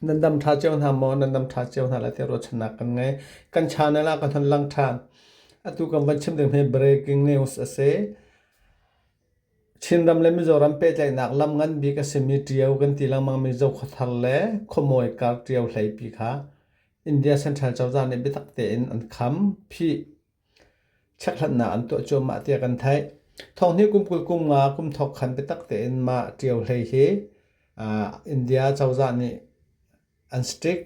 Nan dam ṭha cio hna maw? Nan dam ṭha cio hna lai tiah ruahchannak kan ngei. Kan channel ah kan hon lang ṭhan. Atu kan van chim ding hi breaking news a si. Chinram le Mizoram pehtlaihnak lam ngan bik a simi ṭio kan ti lengmangmi Zokhawthar le Khuamawi kar ṭio hleipi kha India Central cozah nih biatak tein an kham. Phih chekhlatnak an tuah cuahmah tiah kan theih. Thawngnih kum kul kum nga kum thok khan biatak tein mah ṭio hlei hi India cozah nih an stick.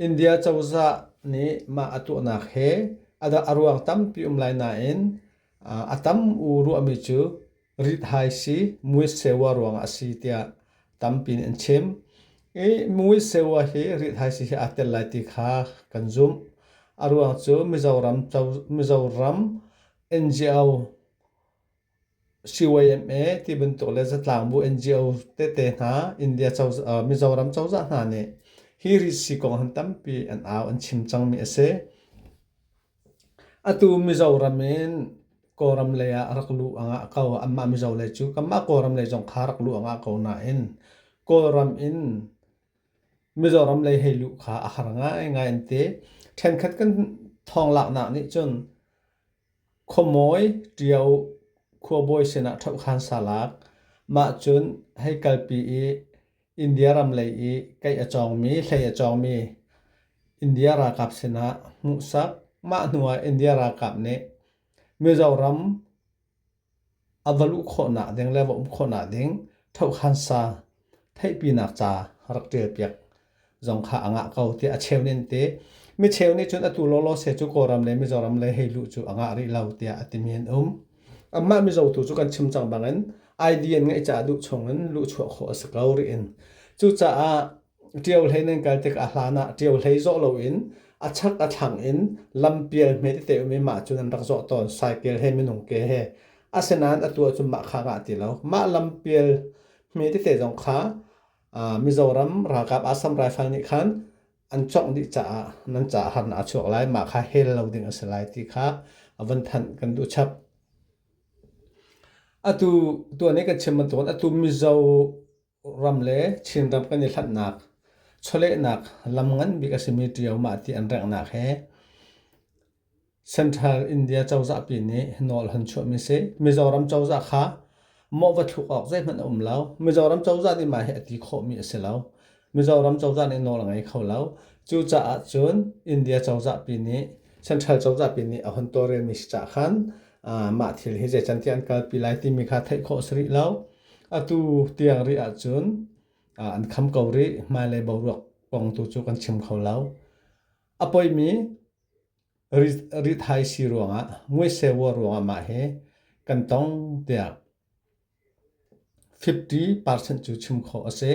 India cozah nih mah a tuahnak he a ruang tampi um lai nain a tam u ruahmi cu rithaisi muiseuwa ruangah a si tiah tampi in an chim. I muiseuwa hi rithaisi he aa tel lai ti kha kan zumh. A ruang cu Mizoram co- Mizoram NGO CYMA ti bantuk le zatlang bu NGO tete hna India cozah, uh, Mizoram cozah hna nih hi risi kong han tampi an au an chim cangmi a si. Atu Mizoram in Kawlram lei ah rak luh angah ko. Anmah Mizo lei cu kanmah Kawlram lei zong kha rak luh angah ko nain Kawlram in Mizoram lei hei luh kha a har ngaingai an ti. Ṭhenkhat kan thonglaknak nih cun khuamawi ṭio khuabawi sinah ṭhoh khan sa lak. Mah cun hei kalpi i India ram lei i kaih a cawngmi, hlei a cawngmi India ralkap sinah hmuhsak. Mah hnuah India ralkap nih Mizoram a va luh khawhnak ding le va um khawhnak ding thohkhansa theihpinak ca rak ṭialpiak zong kha a ngah ko tiah a cheu nih an ti. Mi cheu nih cun atu lawlaw se cu Kawlram le Mizoram le hei luh cu a ngah rih lo tiah a timi an um. Amah mizo tu cu kan chim cang bangin idea ngeih caah duh chungin luhchuah khawh a si ko rih in. Cucaah ṭio hlei nan kal tikah hlan ah ṭio hlei zawh loin a chak a thlang in lampial hme tete um i mah cu nan rak zawh tawn. Cycle he minung ke he. Asinain atu ah cun mah kha ka ti lo. Mah lampial hme tete zong kha Mizoram ralkap Assam Rifle nih khan an congh dih caah nan caah harnak a chuak lai mah kha hel lo ding a si lai ti kha a van thanh kan duh chap atu tuan i kan chim bantukin atu mizo ram le chin ram kan i hlatnak chawlehnak lam ngan bik a simi ṭio mah ti an rengnak he Central India cozahpi nih hnawl han chuahmi si. Mizoram cozah kha mawh va thluk awk zeihmanh a um lo. Mizoram cozah nih mah hi a ti khawhmi a si lo. Mizoram cozah nih nawl a ngei kho lo. Cucaah cun India cozahpi nih Central cozahpi nih a hun tawrelmi si cah khan mah thil hi zeicantiah an kalpi lai timi kha theih khawh a si rih lo. Atu tiang rih ahcun an kham ko rih. Hmailei boruak kong tu cu kan chim kho lo. A poimi rithaisi ruangah ngueseua ruangah mah hi kan tong tiah 50% cu chim khawh a si.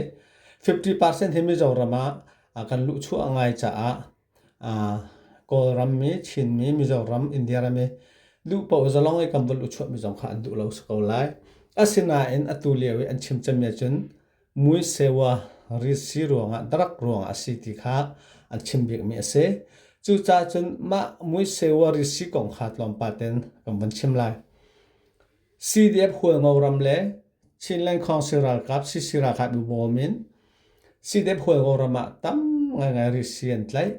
50% hi Mizoram ah kan luhchuah ngai caah Kawlrammi, Chinmi, Mizoram, India rami luhpaoh zalong i kan va luhchuahmi zong kha an duh lo si ko lai. Asinain atu lio i an chim cem nih cun mui sewa risi ruangah darak ruangah a si ti kha an chim bikmi a si. Cucaah cun mah mui sewa risi kong kha tlawmpal ten kan vun chim lai. CDF hualngo ram le Chinland Council ralkap CC ralkap i bawm in CDF hualngo ram ah tam ngaingai risi an tlaih.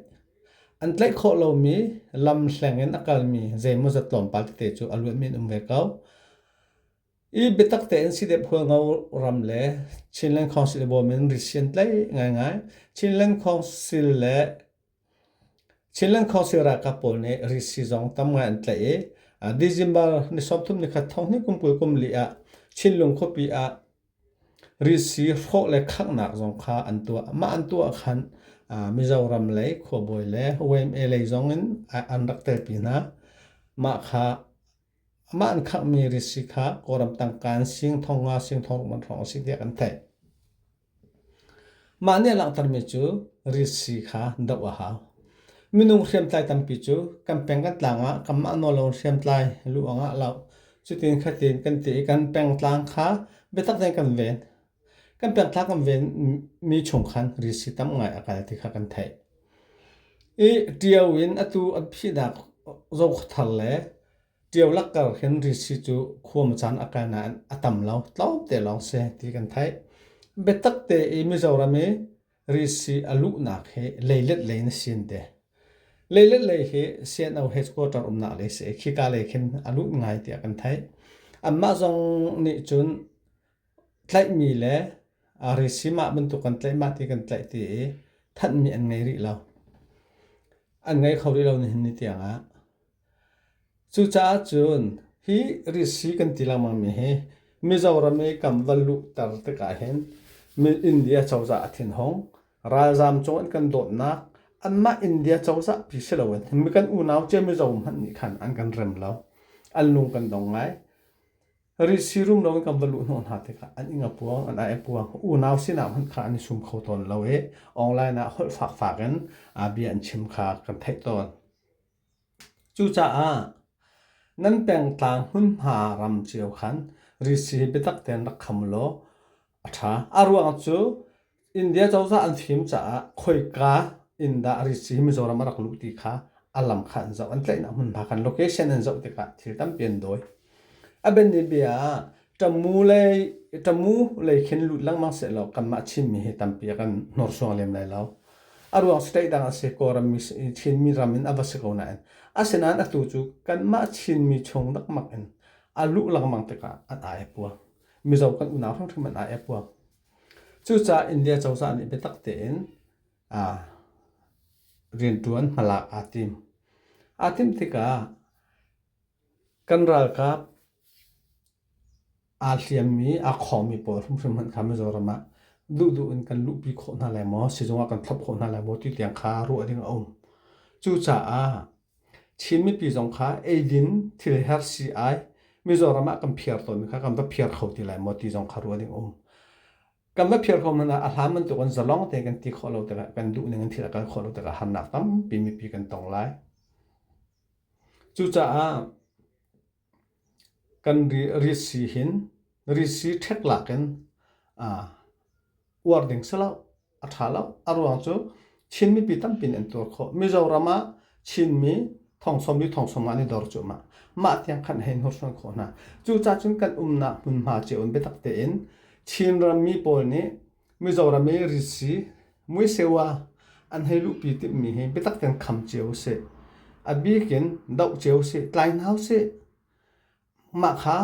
An tlaih khawh lomi lam hleng in a kalmi zeimawzat tlawmpal tete cu a luatmi an um ve ko. I biatak tein sidep hualngo ram le Chinland Council i bawm in risi an tlaih ngaingai. Chinland Council le Chinland Council ralkap pawl nih risi zong tam ngai an tlaih i a December ni sawmthum ni khat thong hnih kum kul kum li ah Chinlung khuapi ah risi hrawh le khaknak zong kha an tuah. Mah an tuah ahkhan Mizoram lei khuabawi le YMCA lei zong in an rak telpi hna. Mah kha Amah an khanghmi risi kha Kawlram tangka in singthong nga singthong rukman hrawng a si tiah kan theih. Mah nih a langhtermi cu risi kha doh a hau. Minung hriamtlai tampi cu kan peng kan tlang ah kanmah nawl lo in hriamtlai luh angah a loh. Cutin khatin kan ti i kan pengtlang kha biatak tein kan ven. Kan pianthla kan venmi chung khan risi tam ngai a kal ti kha kan theih. I ṭio in atu an phihnak zokhawthar le ṭio lakkar hin risi cu khuam caan a kal nain a tam lo, tlawmte lawng si ti kan theih. Biatak te i Mizoram i risi a luhnak hi leilet lei na sin te. Leilet lei hi CNO headquarter umnak lei si i khika lei khin a lut ngai tiah kan theih. Anmah zong nih cun tlaihmi le resim ah bantuk kan tlaih mah ti kan tlaih ti i thanhmi an ngei rih lo. An ngei kho rih lo nihin ni tiangah. Cucaah cun hi risi kan ti lengmangmi hi Mizoram i kan va luhter tikah hin India cozah a thin hung, ralzaam cung an kan dawtnak anmah India cozah pi si loin mi kan unau cia Mizo hmanh nih khan an kan rem lo. An lung kan dong ngai. Risi rum lo in kan va luh hnawh hna tikah an ing a puang, an ai a puang. Unau sinah hmanh khan an i sum kho tawn lo i online ah holh fakfak in bia an chim kha kan theih tawn. Cucaah nan pengtlang hmunhma ram cio khan risi hi biatak tein rak kham law a ṭha. A ruang cu India cozah an fim caah khoika in dah ritz hi Mizoram a rak luh ti kha a lam kha an zoh. An tlaihnak hmunhma khan location an zoh tikah thil tampi an dawi. A bianhnih bia ah ṭamu lei ṭamu lei khin lut lengmang sehlaw kanmah Chinmi hi tampi a kan hnursuang lem lai lo. A ruang state dang a si Kawlram mi i Chinmi ram in a va si ko nain asinain atu cu kanmah Chinmi chung dekmak in a luh lengmang tikah an ai a puang. Mizo kan unau hrimhrim an ai puak. Cucaah India cozah nih biatak tein aa riantuan hmalak aa tim. Aa tim tikah kan ralkap aa hliammi, aa khawmi pawl hrimhrim hmanh kha Mizoram ah duhduh in kan luhpi khawh hna lai maw, sizung ah kan thlop khawh hna lai maw ti tiang kha ruah ding a um. Cucaah Chin mipi zong kha eidin thil her si ai Mizoram ah kan phiar tawnmi kha kan va phiar kho ti lai maw ti zong kha ruah ding um. Kan va phiar kho man ah a hlan bantuk in zalong te kan ti khawh lo tikah kan duh ning in thil a kal khawh lo tikah harnak tampi mipi kan tong lai. Cucaah Kan risi hin risi ṭhek lak in uar ding si lo, a ṭha lo. A ruang cu Chin mipi tampi nih an tuar khawh. Mizoram ah Chinmi thongsom i thongsom an i dor cuahmah. Mah tiang khan a hei hnursuan khawh hna. Cucacun kan umnak hmunhma cio in biatak tein Chinram mi pawl nih Mizoram i risi, muiseu ah an hei luhpi timhmi hi biatak tein kham cio usih. A bik in doh cio usih, tlai hna usih. Mah kha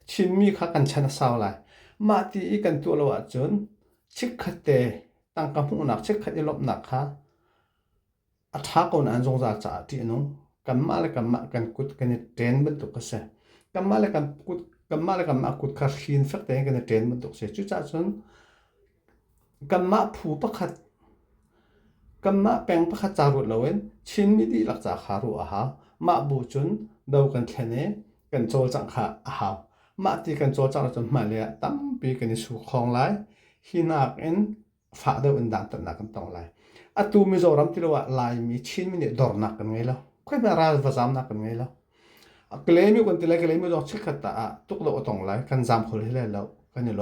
Chinmi kha kan chan a sau lai. Mah ti i kan tuah lo ahcun chikkhatte tangka hmuhnak, chikkhat i lawmhnak kha A ṭha ko nain zungzal caah ṭih a nung. Kanmah le kanmah kan kut kan i ṭen bantuk a si. Kanmah le kan kut, kanmah le kanmah kut kha hrin fek tein kan i ṭen bantuk a si. Cucaah cun kanmah phu pakhat, kanmah peng pakhat ca ruat loin Chinmi dihlak ca kha ruah a hau. Mah bu cun do kan thlen i kan cawlcangh kha a hau. Mah ti kan cawlcangh ahcun hmailei ah tampi kan i sukhawng lai. Hi nakin fah deuh in dantatnak kan tong lai. Atu Mizoram tilo ah Laimi Chinmi nih dornak kan ngei lo. Khoi hme ralvazamnak kan ngei lo. A klemi kan ti le klemi zong chikkhat ta ah tuk lo a tong lai kan zam kho le le lo kan i lo.